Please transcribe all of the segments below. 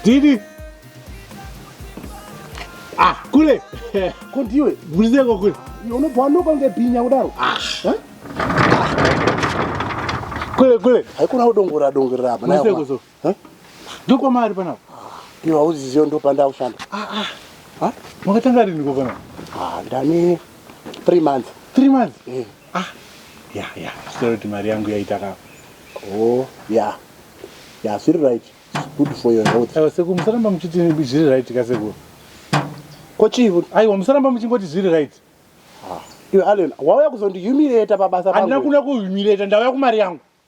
Didi. Ah, kule. Ko ndiwe. Bulize ko kule. Unobva wanoka kunge bhinya kudaro. Ah. Eh? Kule kule. Haikona kudongora dongora apa. Bulize ko so. Eh? Ndiko mari panapa. Iwe hauziziyo ndo panda ushanda. Ah ah. Ha? Makatanga rini ko panapa? Ah, ndani 3 months. 3 months? Eh. Ah. Ya ya. Sorry kuti mari yangu yaita ka. Oh, ya. Ya, siri right. It's good for your health. Ewa seku musaramba muchiti zviri right ka seku. Ko chivo? Aiwa musaramba muchingoti zviri right. Ah. Iwe Allen, wauya kuzondihumiliate pabasa pangu. Andina kuna kuhumiliate, ndauya kumari yangu.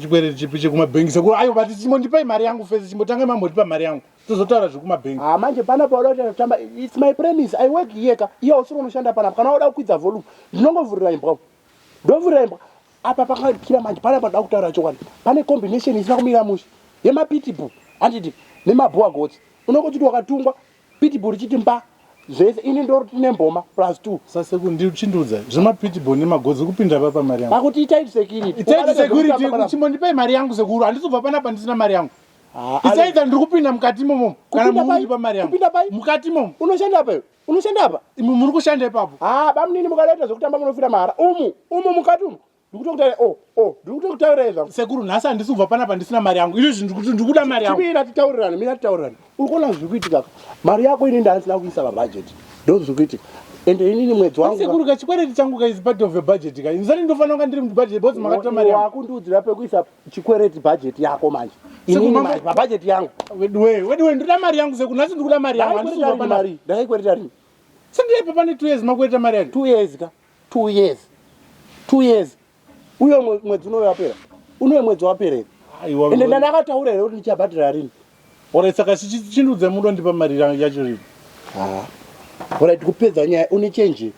chikwereti chipi chekumabhengi sekuru ayo vati chimbondipai mari yangu fesi chimbotangai mambotipa mari yangu tozotaura zvekumabhengi ah, manje pana pauda kuti anotamba its my premise i work here ka iye usiri unoshanda panapa kana wauda kukwidza volume ndinongovhurira imbwa ndovhurira imbwa apa pakakira manje pana panoda kutaura chokwadi pane combination isina kumira mushe yemapitibu handiti nemabhowa gotsi unongochiti wakatungwa pitbull chiti mba zvese ini ndori tine mboma plus two sase kundichindudza zvema pitbull ne magodzi kupinda pa pa mari yangu pakuti itai security itai security kuchimo ndipai mari yangu sekuru andizobva pana pa ndisina mari yangu ah, isaidza ndiri kupinda mukati momo kana mukuti pa mari yangu mukati momo unoshanda pa unoshanda pa imu muri kushanda ipapo ah bamunini mukaleta zvekutamba munofira mara umu umu mukati umu ndikutokutaura o oh, o oh, ndikutokutaura zvangu sekuru nhasi handisi kubva panapa ndisina mari yangu izvo zvinhu kuti ndikuda mari yangu mina titaurirana mina titaurirana uri kuona zviri kuitika mari yako ini ndaandisina kuisa pabhajeti ndo zviri kuitika ende inini mwedzi wangu sekuru ka chikwereti changu ka is part of a budget ka inzani ndofanira kunga ndiri mubudget because makatora mari yangu wakundiudzira pekuisa chikwereti budget yako manje inini manje pabudget yangu weduwe weduwe ndoda mari yangu sekuru nhasi ndikuda mari yangu handisi kubva panari ndakaikwetera rini sendiyaipa pane two years makwereta mari yangu two years ka two years two years uye mwedzi unoyo wapera unoye mwedzi wapera here ende ndandakataura here kuti ndichabhadhira rini ore saka chindudze mudo ndipa mari yacho rini ora tikupedza nyaya une chenji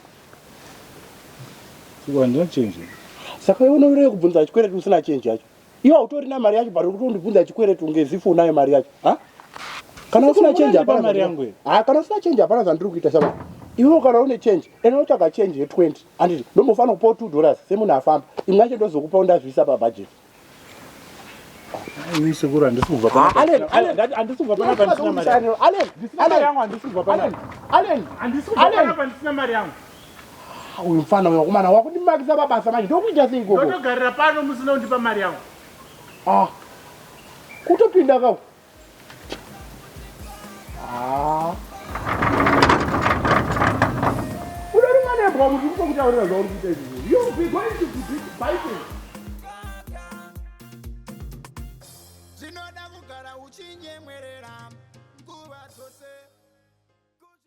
saka iwe unovirei kubvunza chikwereti usina chenji yacho Iwe hautorina mari yacho but ukutondibvunza chikwereti kunge zifu unayo mari yacho. Ha? Kana usina change hapana mari yangu. Ha, kana usina change hapana zvandiri kuita saba. Iwe kana une change, ene unotsvaga change ye 20. Anditi ndombofanira kupa 2 dollars semunhu afamba. Imwe yacho ndozokupa undazviisa pa budget. Ini sekuru handisi kubva pana. Allen, Allen, handisi kubva pana pana sina mari. Allen, Allen, Allen, handisi kubva pana. Allen, handisi kubva pana sina mari yangu. Ah, uyu mfana uyu wakomana wakundimakisa mabasa manje ndokuita sei gogo ndotogarira pano musina kundipa mari yangu ah kutopinda kau ah unori mwana yembwa muti kutokutaurira zvauri kuita izvi you be going to be biting zvinoda kugara uchinyemwerera nguva dzose